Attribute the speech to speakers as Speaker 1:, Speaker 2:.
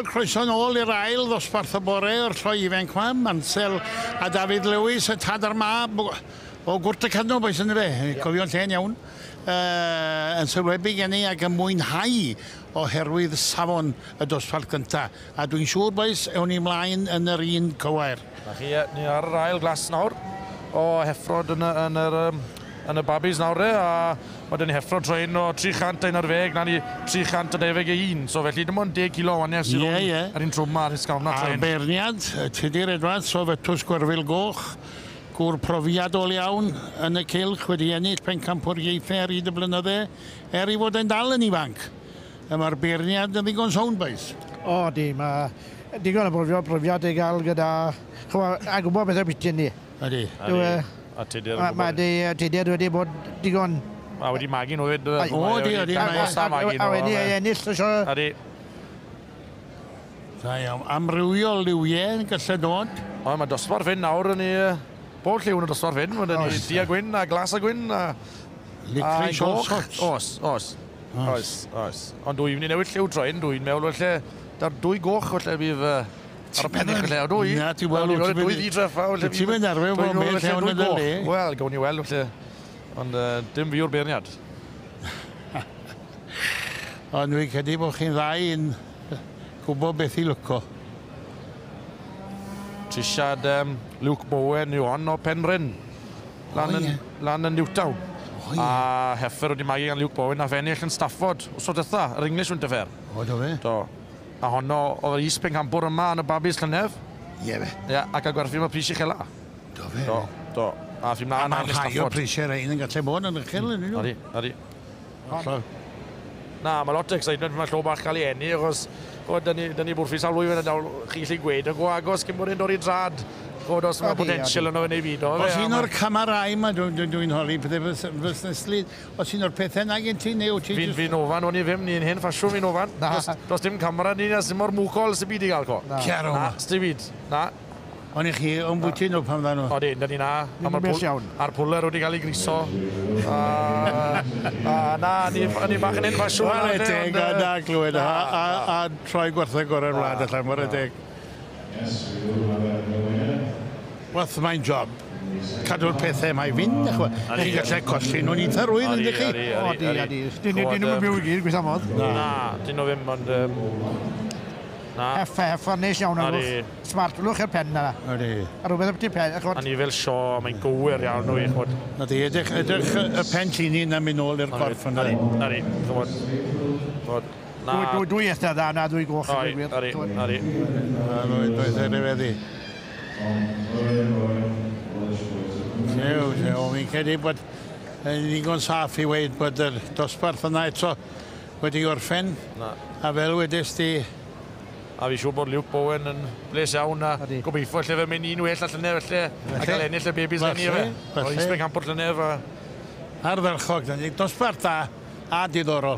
Speaker 1: Wel, croeso nôl i'r ail ddosbarth y bore o'r lloi ifanc yma. Mansel a David Lewis, y tad a'r mab o gwrt y cadno, boes yn fe. Yeah. Cofio'n lle'n iawn. Uh, yn sylwebu gen i ac yn mwynhau oherwydd safon y dosbarth gyntaf. A dwi'n siŵr, boes, ewn ni mlaen yn yr un cywair. 'Na chi, ie, ni ar
Speaker 2: yr ail glas nawr o heffrod yn y, yn yr, um, yn y babis nawr e, a mae dyn ni heffrod troed o 311, na ni 321, so felly dim ond 10 kilo o waniau sydd yeah, yeah. ar un trwm ar hysgafna troed. A'r beirniad,
Speaker 1: Tudur Edwards o Fytws Gwerfil Goch, gŵr profiadol iawn yn y cilch wedi ennill pencampwriaethau ar hyd y blynydde, er i fod e'n dal yn ifanc. A mae'r beirniad yn ddigon soundbite. O ydy, mae
Speaker 3: digon o brofiad, profiad i gael gyda, chimod, a gwybod beth yw'r biti yndi? Ydy. Ydy,
Speaker 1: a
Speaker 2: tudur yn gwybod. Mae dy tudur
Speaker 3: wedi bod digon... A wedi magu
Speaker 2: nhw hefyd. O ydy, ydy.
Speaker 1: A wedi
Speaker 3: ennill y sio. Ydy.
Speaker 2: Da
Speaker 1: iawn. Amrywiol liwiau yn gallu dod. O, mae dosbarth hyn
Speaker 2: nawr yn ei... Bob lliw yn y dosbarth hyn, ma' 'da ni du a gwyn a glas a gwyn a... Licorice
Speaker 1: all sorts. Oes,
Speaker 2: oes. Oes, oes. Ond dw i'n mynd i newid lliw tro hyn, dw i'n meddwl falle, da'r dwy goch falle fydd yy ar y pennill falle, o dw i? Na, ti wel, wyt ti wedi... Dwy
Speaker 1: ddi treffa falle
Speaker 2: fydd... Ti wedi arfer bod mewn
Speaker 1: lle ond yn dy le. Wel, gawn ni weld falle.
Speaker 2: Ond yy, dim fi yw'r beirniad.
Speaker 1: Ond dwi'n credu bod chi'n dda i un. gwbo beth i lwco.
Speaker 2: Trisiad um, Luke Bowen yw hon o Penrhyn. Lan, yn, lan yn Newtown. Oh, yeah. A heffer wedi magu gan Luke Bowen a fennill yn Stafford. Os oedd dytha, yr English Winter Fair. O, do fe? Do.
Speaker 1: A honno
Speaker 2: oedd yr is pencampwr yma yn y babis llynedd. Ie yeah, fe. Ie, yeah,
Speaker 1: ac a gwerthu yma pris
Speaker 2: i chela. Do fe? Do,
Speaker 1: do. A
Speaker 2: fi mlaen yn Stafford. A mae'r rhai o prisiau rhain
Speaker 1: yn gallu bod yn ychel yn un nhw. Odi, odi.
Speaker 2: Hollol. Na, mae lot o excitement pan mae llo bach cael ei enni, achos chod, dyn ni, dyn ni bwrffi sawl blwyddyn yn dawl, chi lli gweud, yn go agos cyn bod e'n dod i drad. Chod, os mae potensial yno fe neu fyd o. Os un o'r camarau
Speaker 1: mae dwi'n dwi, dwi holi pethau fys, fysneslu, os un o'r pethau na gen ti neu ti... Fi'n fi ofan, o'n i ddim,
Speaker 2: ni'n hen ffasiwn fi'n ofan. Na. Does dim camera ni na sy'n mor mwcol sy'n byd i gael co. Na. Ciaro. Na, sti byd. Na. O'n i chi
Speaker 1: o'n bwyty nhw pan dda nhw. O di, da ni na.
Speaker 2: Ni'n bell iawn. A'r pwller wedi cael ei griso. A, a na, ni, ni bach yn enfa siwn. Wel, e teg, a na
Speaker 1: glywed. A, a, a troi gwerthau gorau'r wlad allan, mor e teg. Wrth mae'n job cadw'r pethau yma i fynd, ych chwa. Chi'n gallu colli nhw'n eitha rwydd, ynddi chi? O, di, a
Speaker 3: di. Dyn nhw'n byw i gyd, gweitha modd. Na, dyn nhw ddim,
Speaker 2: ond... Um... Na. Heffa,
Speaker 3: heffa, nes iawn ar Ydi. lwch. Smart, lwch i'r pen na. Ydi. A rhywbeth am ti
Speaker 1: pen,
Speaker 3: a chwod. A ni fel sio,
Speaker 2: mae'n gywir iawn nhw i chwod. Na di, edrych, edrych
Speaker 1: y, y pen llini na mynd nôl i'r corff yna. Ydi, ydi, chwod.
Speaker 2: Chwod. Na. Dwy, dwy, dwy
Speaker 3: eitha dda, na dwy goch. Oi, ydi, ydi.
Speaker 2: Na,
Speaker 1: dwy, dwy eitha rhyfeddi. Llew, llew, fi'n credu bod yn ddigon saff i weid bod yr dosbarth yna eto wedi gorffen. Na. A fel wedest ti... A fi'n
Speaker 2: siŵr bod Luke Bowen yn bles iawn a Ydy. gobeithio lle fe mynd un well a llynedd falle a gael ennill y bebis Falle, eni efe. falle. Oedd Eastman Campbell llynedd
Speaker 1: a
Speaker 2: Ardderchog,
Speaker 1: dyna ni.
Speaker 2: Dosbarth
Speaker 1: da a
Speaker 2: diddorol.